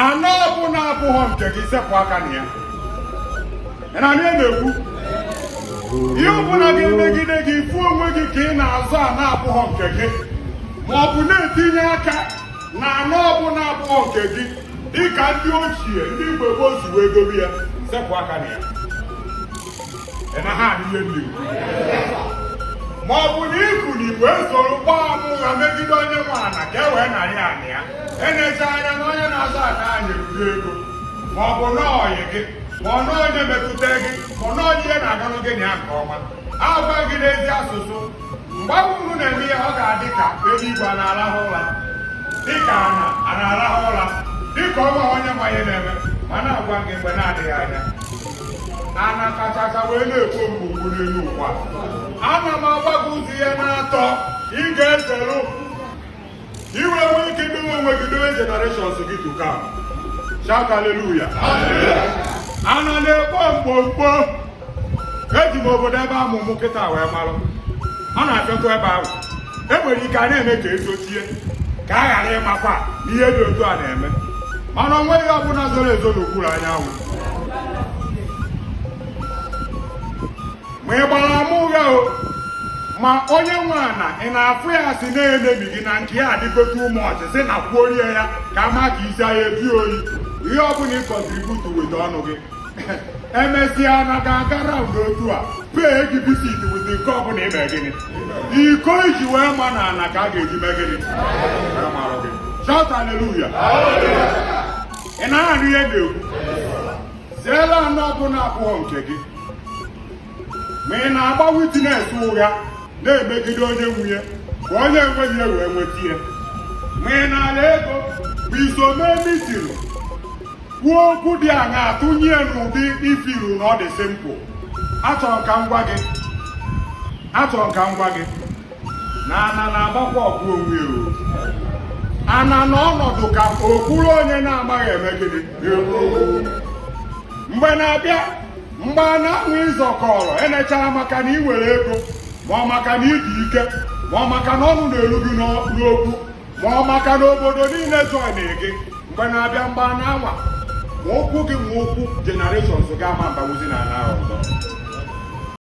ana ọbụla abụghọ nke gị sepụ aka na ya ị na-anụ ihe m na-ekwu ihe ọbụla ga-emegide gị ị fụ onwe gị ka ị na-azụ ana abụghọ nke gị ma ọ bụ na-etinye aka na ana ọbụla abụghọ nke gị dịka ndị ochie ndị mgbe gboo si wee dobe ya sepụ aka na ya ma ọ bụ na ị kwụ na igwe soro gbaa ama ụgha megide onye nwe ana ka e wee narị ana ya enecha anya na onye na-azụ ana nweru ego ma ọ bụ na ọyị gị ma ọ na onye metụta gị ma ọ na onye ihe na-aganụ gị na ya nke ọma agwa gị n'ezi asụsụ mgbe unu na-eme ihe ọ ga-adị ka eluigwe a na-arahụ ụra dịka ana a na-arahụ ụra dịka o nweghị onye ma ihe na-eme mana agwa m gị mgbe na-adịghị anya ana kachacha wee na-ekpo mkpomkpo n'elu ụwa ana m agwa gị ụzọ ihe n'atọ ị ga-ezeru i wee nwee ike idowe onwe gị dowe generations gị to come shout hallelujah ana na-ekpo mkpomkpo eji m obodo ebe a mụ mụ kịta wee marụ ma n'akụkụ ebe ahụ e nwere ike a na-eme ka e zochie ka a ghara ịmakwa na ihe dị otu a na-eme mana o nweghị ihe ọbụla zoro ezo n'okpuru anyanwụ ma ị gbara ama ụgha o ma onye nwe ana ị na-afụ ya si na-emebi gị na nke ya adịgote ụmụ ọchị si na kwuo rie ya ka ama ka isi ahịa ebi oyi ihe ọ bụla ị contribute weta ọnụ gị emesịa na ga-aga round otu a pee gị visit weta nke ọbụla ime gịnị iko iji wee ma na ana ka a ga-eji mee gịnị Wee marụ gị. Shout hallelujah. ị na-anụ ihe m na-ekwu zeelụ ana ọbụla abụghọ nke gị ma ị na-agba witness ụgha na-emegide onye nwe ya ka onye enweghị ya wee nweta ya ma ị na-ana ego bụ iso mee meeting kwuo okwu dị aṅa atụnye n'ụdị ifiru na ọ dị simple achọrọ m ka m gwa gị achọrọ m ka m gwa gị na ana na-agbakwa ọgụ onwe ya o. ana na-anọdụ ka ọ bụrụ onye na-amaghị eme gịnị mgbe na-abịa mgbe ana anwa ị zọkọrọ enechara maka na ị nwere ego ma ọ maka na ị dị ike ma ọ maka na ọnụ na-eru gị n'ọ- n'okwu ma ọ maka na obodo niile joinere gị mgbe na-abịa mgbe ana anwa ma ụkwụ gị ma ụkwụ generations ga-ama mbawuzi na ana ọzọ